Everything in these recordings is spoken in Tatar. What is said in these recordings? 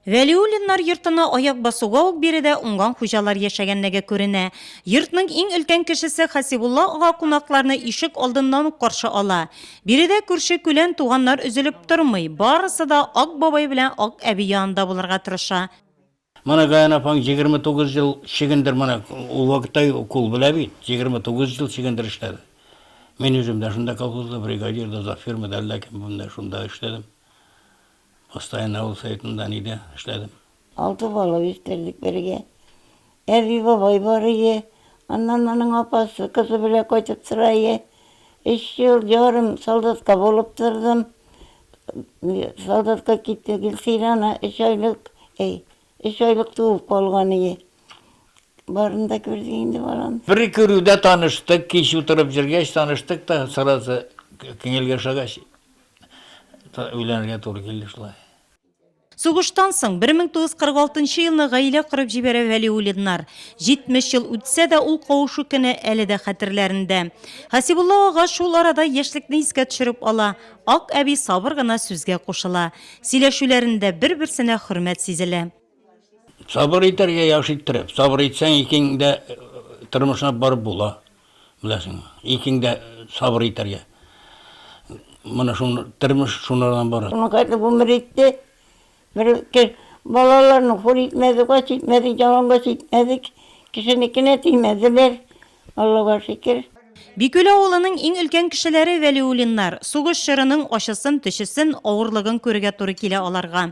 Вәлиуллиннар йортына аяк басуга ук биредә уңган хуҗалар яшәгәнлеге күренә. Йортның иң өлкән кешесе Хасибулла ага кунакларны ишек алдыннан ук каршы ала. Биредә күрше-күлән, туганнар өзелеп тормый, барысы да Ак бабай белән Ак әби янында булырга тырыша. Менә Гаян апаң егерме тугыз ел чөгендер, менә ул вакытта ук ул белә бит, егерме тугыз ел чөгендер эшләде. Мин үзем дә шунда колхозда, бригадир дә, завфермы да, әллә кем, менә шунда эшләдем. Остайны авыл советында нидә эшләдем? Алты бала үстердек бергә. Әби бабай бар иде. Аннан аның апасы кызы белән кайтып тора иде. Өч ел ярым солдатка булып тордым. Солдатка китте Гөлсирана өч айлык, әй, өч айлык туып калган иде. Барын да күрдек инде балам. Бер күрүдә таныштык, кич утырып җөргәч таныштык та, сразу күңелгә ошагач, Өйләнергә туры килде шулай. Сугыштан соң, 1946 елны гаилә корып җибәрә Вәлиуллиннар. 70 ел үтсә дә, ул кавышу көне әле дә хәтерләрендә. Хәсибулла ага шул арада яшьлекне искә төшереп ала, Ак әби сабыр гына сүзгә кушыла. Сөйләшүләрендә бер-берсенә хөрмәт сизелә. Сабыр итәргә яхшы иттереп. Сабыр итсәң, икең дә тормышына барып була. Беләсең, икең дә сабыр итәргә. Моны шуны тормыш шуннан бара. Моның кайда гомер итте. Бер кер балаларны хур итмәде, кач итмәде, ялангач итмәде. Кешенекенә тимәделәр. Аллага шөкер. Бикүл авылының иң өлкән кешеләре Вәлиуллиннар. Сугыш чорының ачысын, төчесен, авырлыгын күрергә туры килә аларга.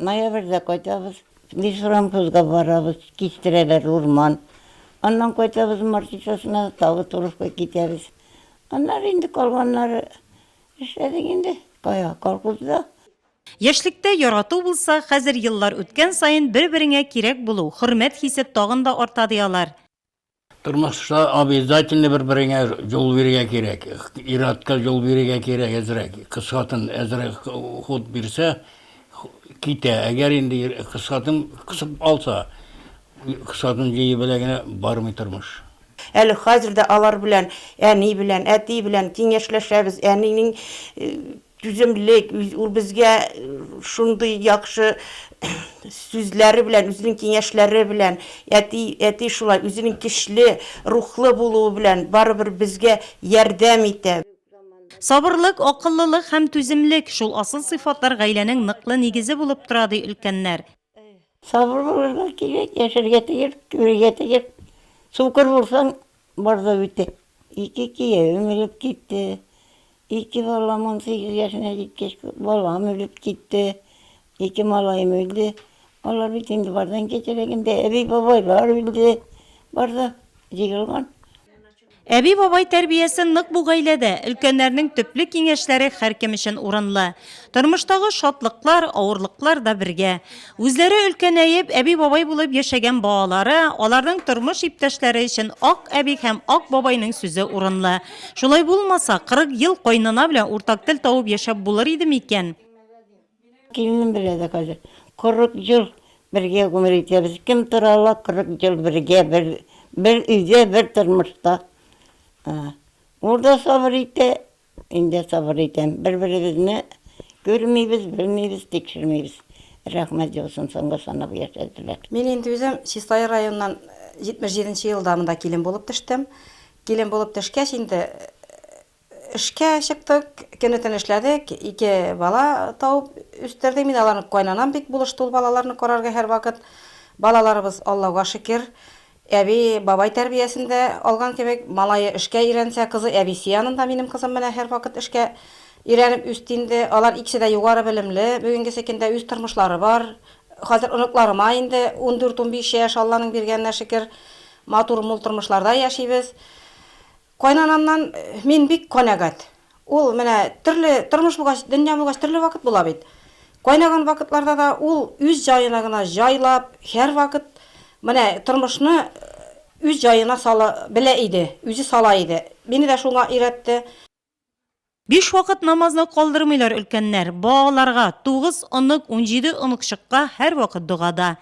Ноябрьдә кайтабыз. Лесорамхозга барабыз, кистерәләр урман. Аннан кайтабыз Мартишасына, тагы Туровка китәбез. Аннары инде калганнары эшләдек инде, кая, колхозда. Яшьлектә ярату булса, хәзер еллар үткән саен бер-береңә кирәк булу, хөрмәт хисе тагын да арта, ди алар. Тормышта обязательно бер береңә җол бирегә кирәк. Иратка җол бирегә кирәк әзрәк. Кыз хатын әзрәк ход бирсә, китә. Әгәр инде кыз хатын кысып алса, кыз хатын җые белә генә бармый тормыш. Әле хәзер дә алар белән, әни белән, әти белән киңәшләшәбез, әнинең Түземлек, ул безгә шундый яхшы сүзләре белән, үзенең киңәшләре белән, әти, әти шулай үзенең көчле, рухлы булуы белән барыбер безгә ярдәм итә. Сабырлык, акыллылык һәм түземлек, шул асыл сыйфатлар гаиләнең ныклы нигезе булып тора, ди өлкәннәр. Сабыр булырга кирәк, яшәргә тиеш, үләргә тиеш. Сукыр булсаң, бар да бетә. Ике киявем үлеп китте, ике балам унсигез яшенә җиткәч, балам үлеп китте, ике малаем үлде. Алар бит инде бардан кичерәк инде, әби-бабайлар үлде, бар да җыелган. Әби-бабай тәрбиясе нык бу гаиләдә, өлкәннәрнең төпле киңәшләре һәркем өчен урынлы. Тормыштагы шатлыклар, авырлыклар да бергә. Үзләре өлкәнәеп, әби-бабай булып яшәгән балалары, аларның тормыш иптәшләре өчен ак әби һәм ак бабайның сүзе урынлы. Шулай булмаса, 40 ел кайнана белән уртак тел табып яшәп булыр идеме икән? Килнем белә дә хәзер. Кырык ел бергә гомер итәбез. Кем тора ала кырык ел бергә, бер бер өйдә, бер тормышта. Ул да сабыр итә, мин дә сабыр итәм. Бер-беребезне күрмибез, белмибез, тикшермибез. Рәхмәт яусын, соңгы санап яшәделәр. Мин инде үзем Чистай районыннан 77 нче елда монда килен булып төштем. Килен булып төшкәч инде, Эшкә чыктык, көне-төне эшләдек, ике бала табып үстердек мин аларны, кайнанам бик булышты ул балаларны карарга һәрвакыт. Балаларыбыз, Аллага шөкер, әби, бабай тәрбиясен дә алган кебек, малае эшкә өйрәнсә, кызы әбисе янында, минем кызым менә һәрвакыт эшкә өйрәнеп үсте инде. Алар икесе дә югары белемле, бүгенгесе көндә үз тормышлары бар. Хәзер оныкларыма инде ундүрт-унбиш яшь, Алланың биргәненә шөкер, матур-мул тормышларда яшибез. Кайнанамнан мин бик канәгать. Ул менә төрле тормыш булгач, дөнья булгач, төрле вакыт була бит. Кайнаган вакытларда да ул үз җаена гына җайлап, һәрвакыт менә тормышны үз җаена сала белә иде, үзе сала иде. Мине дә шуңа өйрәтте. Биш вакыт намазны калдырмыйлар өлкәннәр. Ба аларга, тугыз онык, унҗиде оныкчыкка һәрвакыт догада.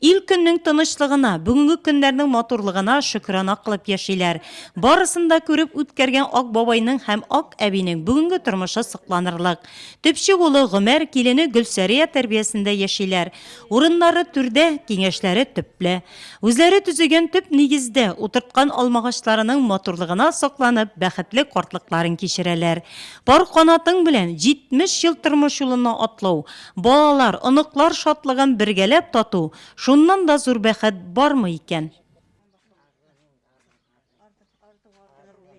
Ил көннең тынычлыгына, бүгенге көннәрнең матурлыгына шөкерана кылып яшиләр. Барысын да күреп үткәргән Ак бабайның һәм Ак әбинең бүгенге тормышы сокланырлык. Төпчек улы Гомәр, килене Гөлсәрия тәрбиясендә яшиләр. Урыннары түрдә, киңәшләре төпле. Үзләре төзегән төп нигездә утырткан алмагачларының матурлыгына сокланып, бәхетле картлыкларын кичерәләр. Пар канатың белән 70 ел тормыш юлына атлау, балалар, оныклар шатлыгын бергәләп тату, шуннан да зур бәхет бармы икән?